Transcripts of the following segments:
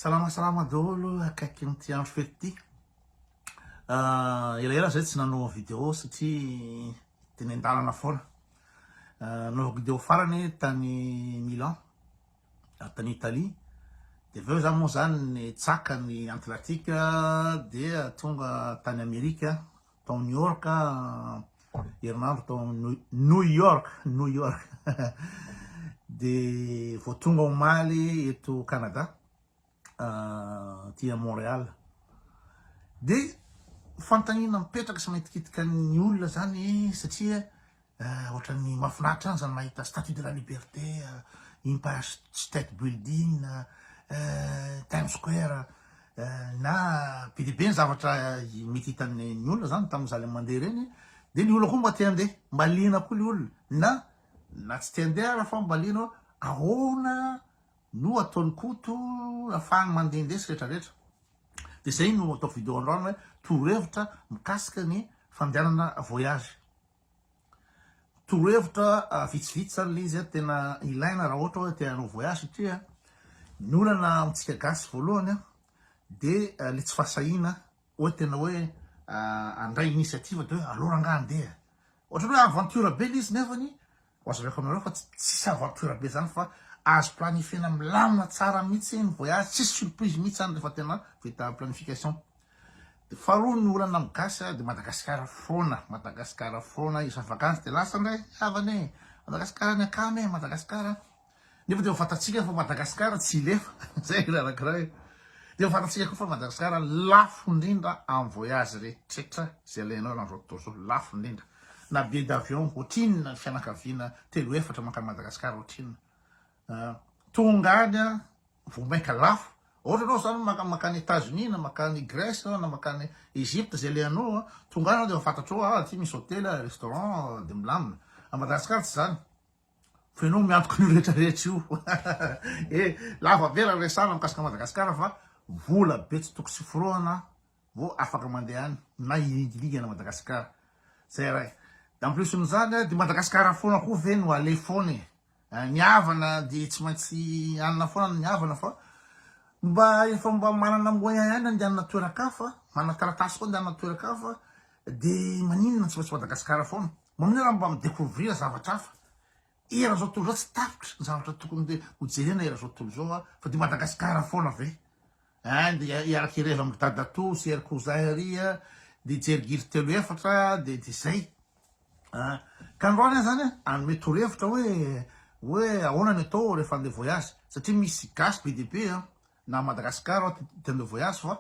Salama salama daholo akaikin'ity andro fety ity. Ah, elaela zay tsy nanao vidéo satria de nendalana foana. Ah, nanao vidéo farany tany Milan, ah, tany Italie. De avy eo za moa zany ny tsaka ny Atlantique dia tonga tany Amerika tao New York herinandro tao New York New York de vao tonga omaly eto Canada ah, ty à Montréal de fanontaniana mipetraka sy maitikitika ny olona zany satria Eh, ohatran'ny mahafinaritra any zany mahita Statue de la Liberté, eh, Empire State Building, eh, Times Square, eh, na be dia be ny zavatra eh, mety hitan'ny ny olona zany tamin'ny zaly mandeha ireny, dia ny olona koa mba te handeha, mba liana koa ny olona, na na tsy te handeha ara fa mba liana hoe ahoana no ataon'ny koto afahany mandehandeha sy rehetrarehetra. Dia zay no ataoko vidéo androany hoe torohevitra mikasika ny fandehanana voyage. Torohevitra vitsivitsy zany le izy a, tena ilaina raha ohatra hoe te hanao voyage satria ny olana amintsika gasy voalohany a de le tsy fahasahiana hoe tena hoe handray initiative de hoe aleo rangahy andeha, ohatran'ny hoe aventure be le izy nefany Wazaveko aminareo fa tsisy aventure be zany fa azo planifiena milamina tsara mitsy ny voyage tsisy surprise mitsy zany refa tena vita planification de faharoa ny olana am gasy de Madagascar fona Madagascar fona isam vacances de lasa ndray ny havany e Madagascar ny akama e Madagascar Nefa dia ho fantatsika fa Madagasikara tsy hilefa, zay ilay anankiray. Dia ho fantatsika koa fa Madagasikara lafo indrindra amin'ny voyage rehetra izay alainao eran'izao tontolo izao, lafo indrindra. Na billet d'avion ohatrinona ny fianakaviana telo efatra mankany Madagasikara ohatrinona. Ah, tonga any vao mainka lafo. Ohatra ianao izany maka- mankany États-Unis na mankany Grèce na mankany Egypte izay alehanao, tonga any ianao dia efa fantatrao ah aty misy hôtely, restaurant dia milamina. A Madagasikara tsy izany. Fa ianao miantoka an'io rehetra rehetra io. E, lava be raha resahana mikasika Madagasikara fa vola be tsy tokosy forohana vao afaka mandeha any na hilingilingana Madagasikara. Zay iray. En plus n'izany, dia Madagasikara foana koa ve no aleha foana e. Ny havana dia tsy maintsy hanana foana ny havana fa mba efa mba manana moyen ihany handehanana toeran-kafa, manana taratasy koa handehanana toeran-kafa dia maninona tsy maintsy Madagasikara foana. Maminay raha mba mi-decouvrir zavatra hafa eran'izao tontolo izao tsy tapitra ny zavatra tokony ho jerena eran'izao tontolo izao a fa dia Madagasikara foana ve a dia hiaraka ireva amin'ny dadatoa sy ery cousin ery a dia hijery gily telo efatra dia dia izay a ka androany zany a hanome torohevitra hoe hoe ahoana ny atao rehefa andeha voyage satria misy gasy be dia be a na Madagasikara aho te handeha voyage fa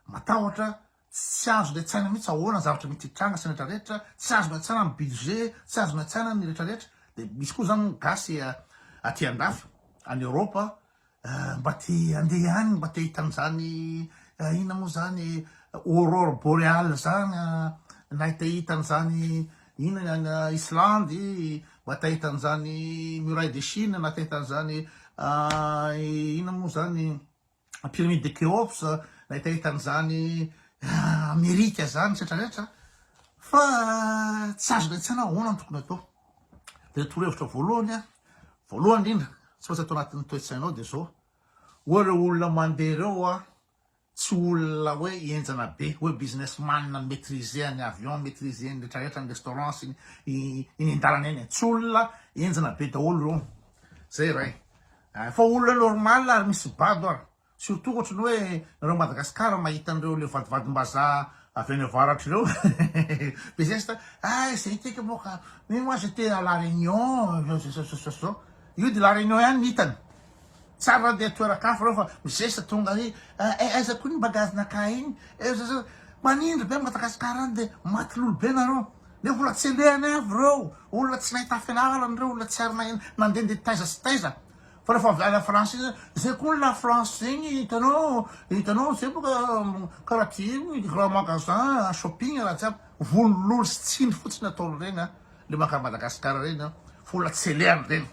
matahotra Tsy azo niantsaina mihitsy ahoana ny zavatra mety hitranga sy ny rehetra rehetra, tsy azo niantsaina ny budget, tsy azo niantsaina ny rehetra rehetra, dia misy koa izany gasy aty andafy any Europe mba te handeha any mba te hahita an'izany inona moa izany aurore boreale izany na te hahita an'izany inona any Islandy mba te hahita an'izany muraille de Chine na te hahita an'izany inona moa izany Pyramide de Khéops, nahitahita an'izany Amerika izany, etc. Etc. Fa tsy azo lain-tsaina hoe ahoana no tokony atao. Dia ny torohevitra voalohany, voalohany indrindra, tsy maintsy atao anatin'ny toe-tsainao dia izao, hoe ireo olona mandeha ireo tsy olona hoe henjana be, hoe businessman mi-maitriser ny avion, mi-maitriser ny rehetra rehetra, ny restaurant sy ny eny an-dalana eny. Tsy olona henjana be daholo ireo. Izay iray. Efa olona normal ary misy bado ary. Surtout ohatry ny hoe nareo Madagascar mahita an'ireo le vadivadimbazaha avy any avaratra ireo be zesta ay zay teka moa ka mais moi je t'ai à la Réunion zao zao zao zao zao io de la Réunion ihany ny hitany tsary raha andeha toeran-kafa ireo fa mizesta tonga ary eh aiza koa iny bagage-nakay iny eh zao zao manindry be Madagascar any de maty lolo be nareo Dia mbola tsy endehany avy ireo olona tsy nahita fianarana, ireo olona tsy ary nahay nandehandeha taiza sy taiza. Fa rehefa avy any France iny, izay koa ny la France zegny hitanao, hitanao izay boka karaha ty ny grand magasin, shopping raha jiaby. Vono lolo sy tsindry fotsiny ataony ireny an, le makà Madagascar ireny an, fa olona tsy alehany ireny,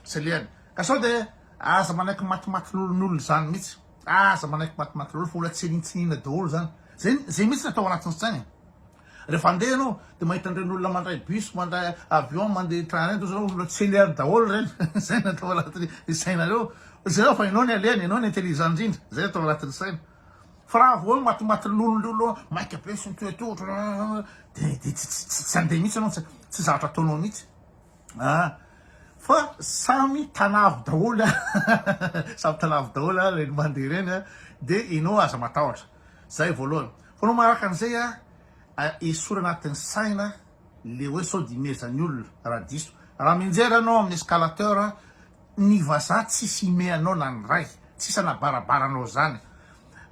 tsy alehany. Ka sao dia aza manaiky matimatilolon'olona izany mihitsy, aza manaiky matimatilolo fa olona tsy anintsininina daholo izany. Zay, zay mihitsy ny atao anatin'ny saina e. Rehefa andeha ianao dia mahita an'ireny olona mandray bus, mandray avion, mandeha train ireny, toa izao olona tsy lery daholo ireny. Izay no atao anatin'ny sainareo. Jereo fa ianao ny alehany, ianao ny intelligent indrindra. Izay no atao anatin'ny saina. Fa raha vao hoe matimaty lonilony ianao, maika be sy mitoetoa ohatran'ny dia dia tsy tsy tsy handeha mihitsy ianao, tsy tsy zavatra ataonao mihitsy. Ah, fa samy tanavy daholo, samy tanavy daholo ireny mandeha ireny, dia ianao aza matahotra. Zay voalohany. Fa no manaraka an'izay a, esory anatin'ny saina le hoe sao dia imezan'ny olona raha diso. Raha mianjera ianao amin'ny escalateur, ny vazaha tsisy imehy anao na ny ray, tsisy anabarabara anao izany.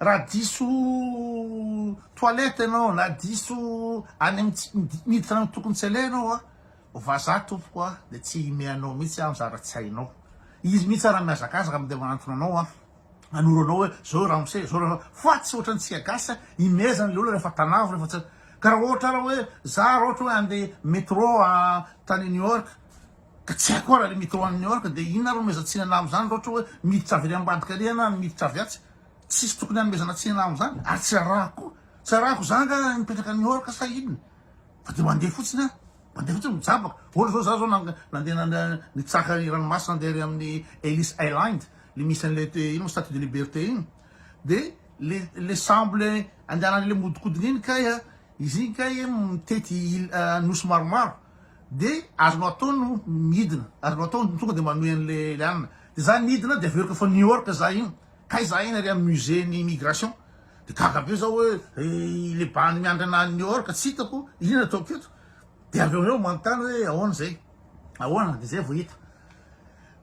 Raha diso toilette ianao na diso any amin'ny tsy, miditra any tokony tsy aleha ianao a, vazaha tompoko a, dia tsy imehy anao mihitsy izany zara tsy hainao. Izy mihitsy ara mihazakazaka dia manantona anao a. hanoro anao hoe zao ramose zao ra fa tsy ohatran'ny tsika gasy imezana le olona rehefa tanavo rehefa tsy ka raha ohatra raha hoe za raha ohatra hoe andeha metro a tany New York ka tsy haiko ara le metro any New York de inona reo meza tsinana am'zany raha ohatra hoe miditra avy any ambadika ary ianao miditra avy atsy tsisy tokony hanomezana tsinana am'zany ary tsy arahako koa tsy arahako za nga mipetraka New York sa inona fa de mandeha fotsiny aho mandeha fotsiny mijabaka ohatra zao za zao nandeha nitsaka ny ranomasina andeha ary amin'ny Ellis Island le misy anle te ino statue de liberte iny de le le sambo le andehanany le mihodikodina iny kay a izy iny kay mitety nosy maromaro de azonao atao no midina azonao atao ny tonga de manohy anle le anina de za nidina de avy eo reko fa new york za iny kay za iny ary aminy musée ny immigration de gaga be za hoe le bandy miandry ana any new york tsy hitako ino ataoko eto de avy eo amizay manontany hoe ahoana zay ahoana de zay vao hita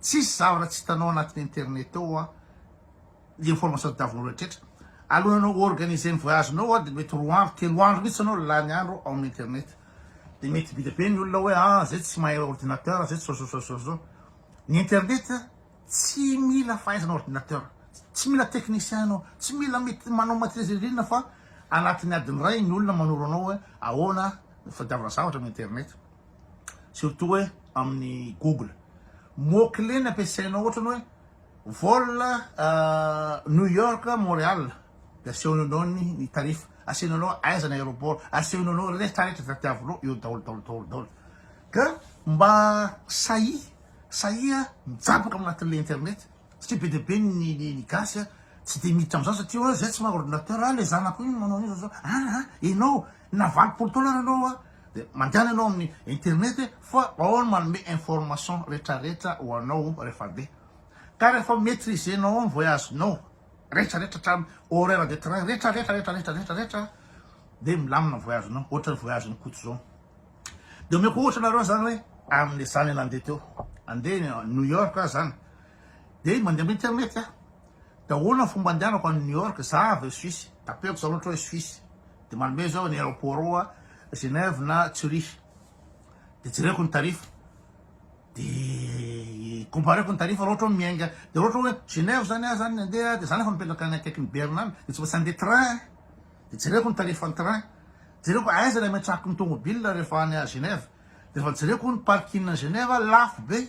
tsisy zavatra tsy hitanao anatin'ny internet ao hoa ny information tadiavinao rehetra alohan'ny anao organiser ny voyage nao hoa dia mety roa andro telo andro mihitsy anao lany andro ao amin'ny internet dia mety bida be ny olona hoe ah zay tsy mahay ordinateur zay tsy sososososo ny internet tsy mila fahaizana ordinateur tsy mila technicien anao tsy mila mety manao maîtrise irina fa anatin'ny adiny iray ny olona manoro anao hoe ahoana fadiavina zavatra amin'ny internet surtout hoe amin'ny google mot clé ny ampiasainao ohatra ny hoe vol new york montreal dia asehony anao ny tarif asehony anao aiza ny aéroport asehony anao rehetrarehetra izay tiavinao eo daholo daholo daholo daholo ka mba sahia sahia mijabaka amin'ny anatin'ilay internet satria be dia be ny ny gasy a tsy dia miditra amin'izany satria hoe izay tsy maha ordinateur a ilay zanako iny manao an'io zao zao aa ianao na valopolo taona ary ianao a Dia mandehana ianao amin'ny internet e, fa ao no manome information retraretra ho anao rehefa be. Ka rehefa maitriser-nao ao ny voyage-nao retraretra hatrany horaire de train retraretra retraretra retraretra dia milamina ny voyage-nao, ohatran'ny voyage-n'i Koto izao. Dia omeko ohatra anareo izany hoe amin'ny zany nandeha teo, handeha New York aho izany, dia mandeha amin'ny internet aho, dia ahoana ny fomba andehanako any New York, za avy Suisse, tapehako izany ohatra hoe Suisse, Dia manome izao ny aeroports Genève na Zurich. Dia jereko ny tarif. Dia compareko ny tarif raha ohatra hoe miainga. Dia raha ohatra hoe Genève izany aho izany handeha dia za nefa mipetraka any akaikin'i Berne any dia tsy maintsy handeha train. Dia jereko ny tarifn'ny train. Jereko aiza ilay ametrahako ny tomobil rehefa any Genève. Dia rehefa jereko ny parking any Genève lafo be.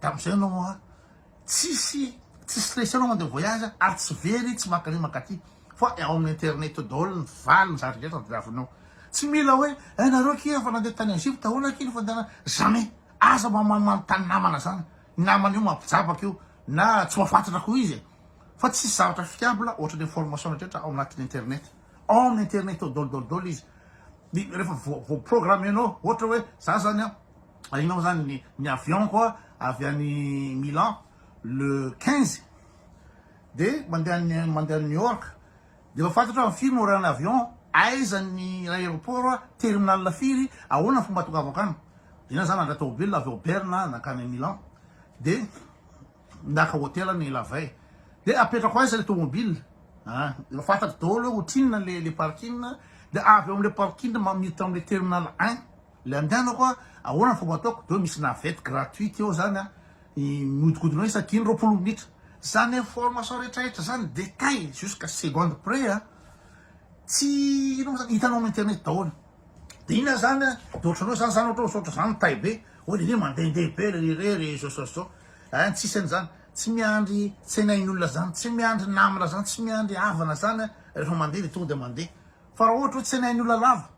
Tamin'izay ianao an, tsisy tsy stressé ianao mandeha voyage ary tsy very, tsy mankany mankaty fa ao amin'ny internet daholo ny valiny zany rehetra tadiavinao. Tsy mila hoe eh nareo akia efa nandeha tany Egypte ahoana akia ny fandehanana, jamais. Aza mba manontany namana zany, ny namana io mampijabaka io na tsy mahafantatra koa izy e. Fa tsisy zavatra fiable ohatran'ny information rehetra ao anatin'ny internet. Ao amin'ny internet ao daholo daholo daholo izy. Dia rehefa voa programmer-nao ohatra hoe za zany an, Ahianao zany ny ny avion ko avy any Milan le quinze de mandeha any mandeha any New York de efa fantatro amin'ny firy no horain' ny avion aiza ny aéroport a terminal firy ahoana ny fomba atongavako any de na za nandray tomobilina avy ao Berne a nankany Milan de naka hotel any la veille de apetrako aiza le tomobil a efa fantatro daholo hoe otrinona le le parking de avy ao amle parking ma miditra amle terminal un. Le andehanako a, ahoana ny fomba ataoko? De hoe misy navette gratuite eo zany a, miodikodina eo isaky ny roapolo minitra. Zany information retraretra zany detail jusqu'à seconde près a, tsy ino moa zany, hitanao am internet daholo. De iny ah zany a, de ohatran'ny hoe za zany ohatra misaotra za mitahy be, hoe lehilahy mandehandeha be ry re ry zao zao zao, ein tsisy an'zany, tsy miandry tsenain'olona zany, tsy miandry namana zany, tsy miandry havana zany a, rehefa mandeha de tonga de mandeha, fa raha ohatra hoe tsenain'olona lava,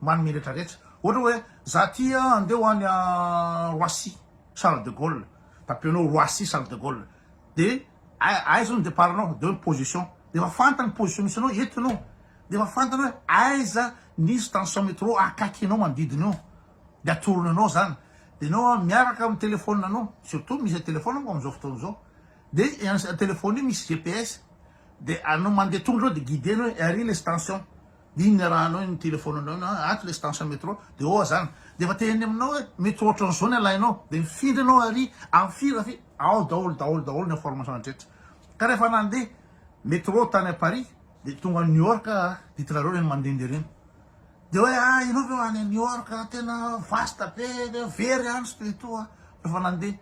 Manome retraretra. Ohatra hoe, za aty a, andeha ho any Roissy, Charles de Gaulle. Tapenao Roissy, Charles de Gaulle. Dia ai- aiza hono ny départ-nao? Dia hoe ny position. Dia efa fantany ny position misy anao, eto ianao. Dia efa fantany hoe aiza ny station métro akaikinao manodidina eo. Dia atorony anao izany. Dia ianao a, miaraka amin'ny téléphone anao, surtout misy téléphone manko amin'izao fotoana izao. Dia i an- téléphone io misy GPS. Dia anao mandeha tongotro eo dia guider-ny hoe ary ilay station. Inona raha anao iny téléphone anao iny hoe ato ilay station métro dia oa zany dia efa te eny aminao hoe métro ohatran'ny zao ny alainao dia mifindra ianao ary amin'ny firy raha firy ao daholo daholo daholo ny information rehetra ka rehefa nandeha métro tany à Paris dia tonga New York aho ditinareo ireny mandehandeha ireny dia hoe ah ianao ve ho any New York tena vaste be dia very any tsy dia toa rehefa nandeha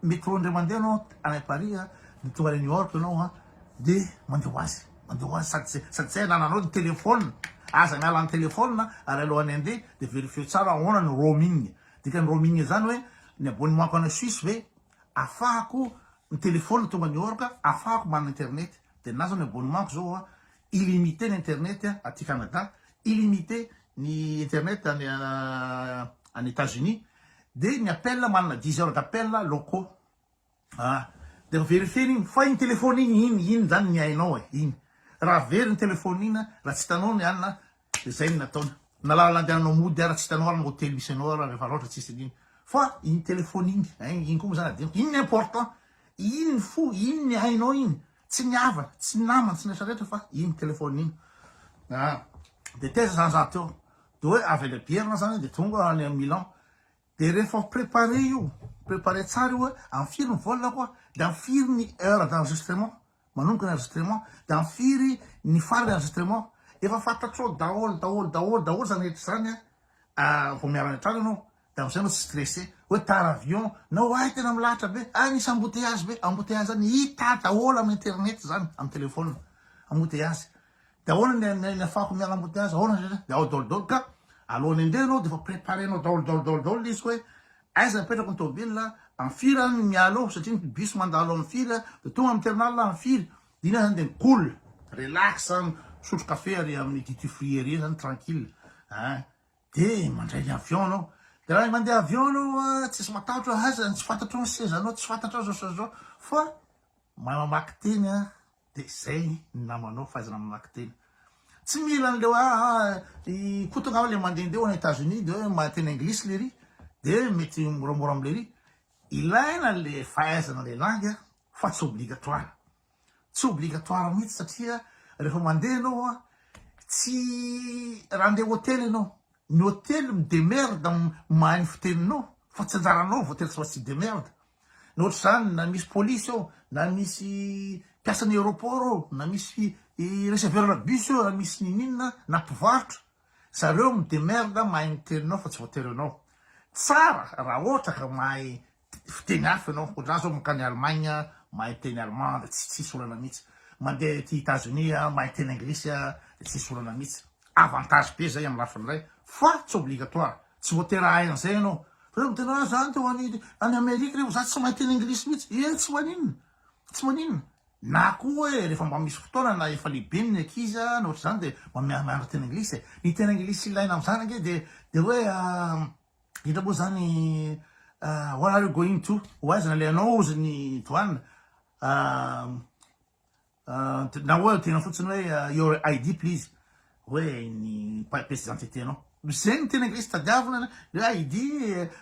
Métro ndray mandeha anao any Paris a, de tonga any New York enao a, de mandeha ho azy, mandeha ho azy sady ze sady ze anananao ny téléphone, aza miala ny téléphone a, ary alohan'ny handeha de verifieo tsara ahoana ny roaming, dikan'ny roaming zany hoe ny abonnement-ko any Suisse ve afahako ny téléphone tonga New York afahako manana internet, de ninahy zao ny abonnement-ko zao a, illimité ny internet aty Canada, illimité ny internet any any Etats-Unis dia ny appel manana dix heures d'appel locaux ah dia verifier iny fa iny téléphone iny iny iny zany ny hainao e iny raha very ny téléphone iny raha tsy hitanao ny anona dia zay ny nataony na lalana andehananao mody ara tsy hitanao ary ny hotely misy anao ary rehefa loatra tsisy an'iny fa iny téléphone iny hein iny koa moa zany adinoko iny ny important iny ny fo iny ny hainao iny Tsy ny havana, tsy ny namana, tsy ny rehetra rehetra fa iny téléphone iny. Ah, de taiza zany za teo? De hoe avy any Abierina aho zany de tonga any am Milan. De rehefa préparé io, préparé tsara io hoe am firy ny vol ko a, de am firy ny heure d'enregistrement, manomboka ny enregistrement, de am firy ny farany enregistrement, efa fantatrao daholo daholo daholo daholo zany rehetra zany a, ah vao miala any an-trano ianao, De amzay anao tsy stressé hoe tara avion na oay tena milahatra be ay misy embouteillage be, embouteillage zany hita daholo am internet zany am telephone embouteillage de ahoana ny ny afahako miala embouteillage ahoana zay zay de ao daholo daholo ka alohan'ny andeha anao defa preparenao daholo daholo daholo daholo le izy koa hoe aiza apetrako ny tôbila am firy an no miala eo satria ny bus mandalo am firy an de tonga am terminal am firy de iny zany de cool relax zany misotro kafe ary amin'ny duty free ery zany tranquille ein De mandray ny avion anao. De raha mandeha avion anao a, tsisy matahotra hoe aiza ny tsy fantatrao ny sezanao, tsy fantatrao zao sy zao fa mamaky teny a, de zay ny namanao fahaizana mamaky teny. Tsy mila an'le hoe ah ah i Koto angamba le mandehandeha ho any Etats-Unis de hoe mahay teny anglisy lery de mety moramora am'lery. Ilaina le fahaizana le langue fa tsy obligatoire. Tsy obligatoire mihitsy satria rehefa mandeha ianao an, tsy raha handeha hotely ianao, ny hotely mi-demerde amin'ny mahay ny fiteninao fa tsy anjaranao hotely tsy maintsy hi-demerde. Na ohatr'izany na misy polisy ao, na misy mpiasan'ny aéroport ao, na misy receveur-na bus eo, na misy ninoninona, na mpivarotra, zareo mi-demerde mahay ny teninao fa tsy voatery ianao. Tsara raha ohatra ka mahay Fiteny hafa ianao, ohatrany zao mankany Allemagne mahay miteny allemand de tsy tsisy olana mihitsy, mandeha aty Etazonia mahay miteny anglisy de tsisy olana mihitsy, avantage be zay am lafiny ray fa tsy obligatoire, tsy voatery hahay an'izay ianao, fa reo miteny ah zany teo any any Amerique reo za tsy mahay miteny anglisy mihitsy, ee tsy maninona tsy maninona, na koa hoe refa mba misy fotoana na efa lehibe ny ankizy a na ohatr'izany de mba mianatra teny anglisy e, ny teny anglisy ilaina am'zany ange de de hoe Inona moa zany what are you going to ho aiza le anao ozy ny douane na oe tena fotsiny oe your ID please oe ny piece d'identité nao zegny tena nge tsy tadiavina le ID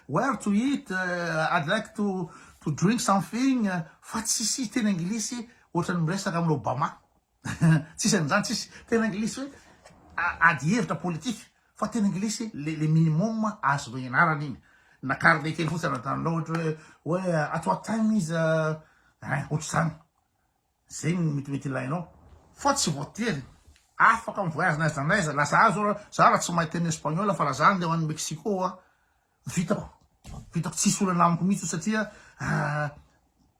where to eat I'd like to to drink something fa tsisy teny anglisy ohatran'ny miresaka amin'Obama. Tsisy an'izany tsisy. Tena anglisy hoe ady hevitra politika fa tena anglisy le minimum azonao ianarana iny. Na carnet kely fotsiny anatinao ohatra hoe hoe at what time is hein ohatr'izany. Zay no metimety ilainao. Fa tsy voatery afaka mi-voyage n'aiza n'aiza. Laza ahy zao, za raha tsy mahay teny espagnol fa laza ahy andeha ho any Mexico aho, Vitako, vitako tsisy olana amiko mihitsy io satria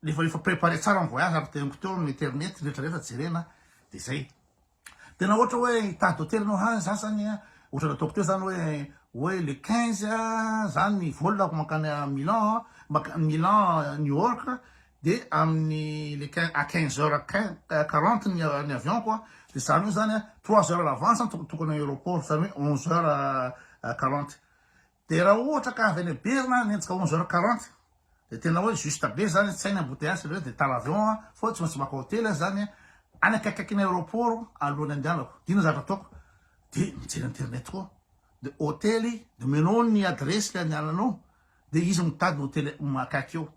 efa efa préparé tsara ny voyage ary teniko teo amin'ny internet ny rehetra rehetra jerena dia zay. Tena ohatra hoe hitady hotely anao ha za zany a ohatra nataoko teo zany hoe hoe le 15 za ny volako mankany Milan mankany Milan New York dia amin'ny le 15 à 15 heures 15 40 ny ny avion ko dia zany hoe zany a 3 heures à l'avance tokony tokony aéroport zany hoe 11 heures 40 Dia raha ohatra ka avy any Berna hanenjika onze heures quarante dia tena hoe juste be zany, tsy hainy embouteillage reo dia tala avion a, foa tsy maintsy maka hotely aho zany any akaikikaikin'ny aeroport alohan'ny andehanako, dia inona zavatra ataoko? Dia mijery internet koa, dia hotely dia omenao ny adiresy le andehananao dia izy mitady ny hotely akaiky eo,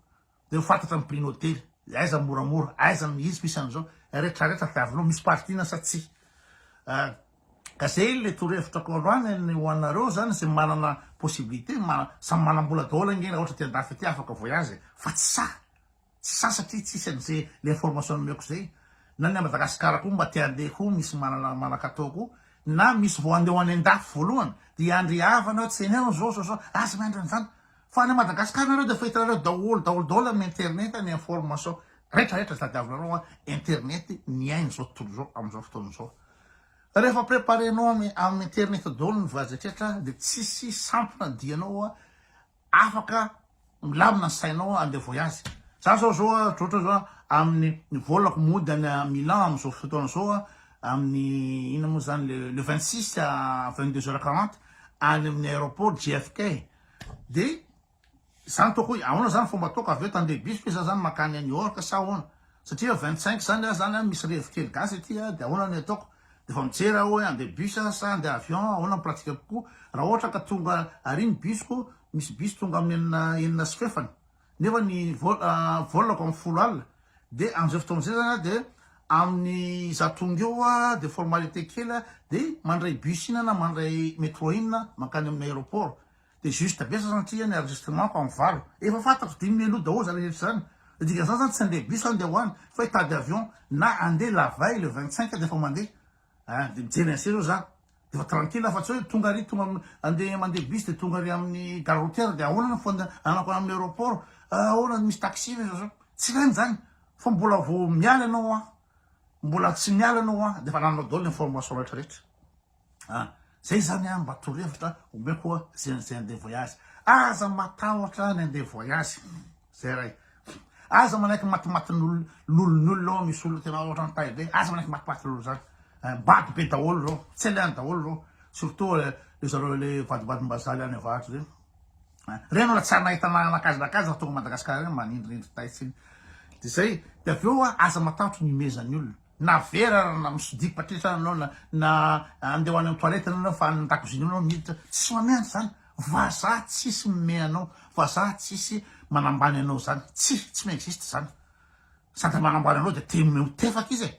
Dia ho fantatra ny prix ny hotely, dia aiza ny moramora, aiza ny izy ko isan'izao, retraretra tadiavinao misy partie-na sa tsia. Ah, ka zay ilay torohevitra ko aloha any ny ho anareo zany zay manana possibilité, samy manam-bola daholo ange raha ohatra aty an-dafy aty afaka voyage e, fa tsy sahy, tsy sahy satria tsisy an'izay le information nomeko zay, na ny any Madagascar ko mba te handeha ko misy manana manakatao ko, na misy vao handeha ho any an-dafy voalohany, dia hiandry havana, tseneo, zao, zao, zao, aza miandry an'izany, Fa any Madagascar nareo dia efa hitanareo daholo daholo daholo amin'ny internet ny information rehetra rehetra tadiavinareo an internet ny aina izao tontolo izao amin'izao fotoana izao rehefa preparenao amin'ny internet daholo ny voyage rehetra dia tsisy sampona dianao an afaka milamina ny sainao andeha voyage za zao zao an ohatry zao amin'ny ny volako mody any à Milan amin'izao fotoana izao an amin'ny ina moa zany le le 26 à 22 heures 40 any amin'ny aéroport JFK Dia za nitaoko hoe ahoana zany fomba ataoko avy eo tande bus ve za zany makany any ork sa ahoana satria vingt cinq zany ah zany misy revy kely gasy aty ah dia ahoana ny ataoko dia efa mijery aho hoe ande bus ah sa ande avion ahoana ny pratika kokoa raha ohatra ka tonga ary ny bus ko misy bus tonga amin'ny enina enina sy fefany nefa ny vol ko am folo alina de amzay fotoana zay zany a de aminy za tonga eo a de formalite kely a de mandray bus ina na mandray metro ina mankany aminy aeroport de juge tabesa zany satria ny enregistrement ko am valo efa fantatro dimy mi aloha daholo zany rehetra zany de dikany zany zany tsy ande bus zany de ho any fa hitady avion na ande la veille le vingt cinq de efa mande Hein de mijery an'se zao za de efa tranquille fa tsy hoe tonga ary tonga andeha mandeha bus de tonga ary amin'ny gare routière de ahoana ny fandehanako any amin'ny aeroport ah ahoana misy taxi ve zao zao tsy ilaina izany fa mbola vao miala ianao an mbola tsy miala ianao an de efa anananao daholo ny information rehetra rehetra an zay zany an mba torohevitra omeko ze an'izay andeha voyage aza matahotra ny andeha voyage Zay ray. Aza manaiky matimatin'olon'olona ao misy olona tena ohatran'ny tay be, aza manaiky matimatin'olona zany. Eh, bado be daholo reo, tsy alehany daholo reo. Surtout eh, le zareo le vadibadimbazaly any avaratra zay. Eh, reno raha tsy anahita nakazanakaza raha tonga Madagasikara reny manindrindry tay tsiny. De zay, de avy eo aza matahotry ny imezan'ny olona. Na vera ary na msody patrisa anao na na andeha ho any am toilette anao na fa any ndakozia anao miditra tsisy mamehy anao zany vazaha tsisy mimehy anao vazaha tsisy manambany anao zany tsy tsy mi existe zany sady manambany anao de te mimehy ho tefaka izy e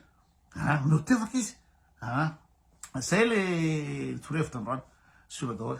a mimehy ho tefaka izy a zay le torohevitra androany sur daholo.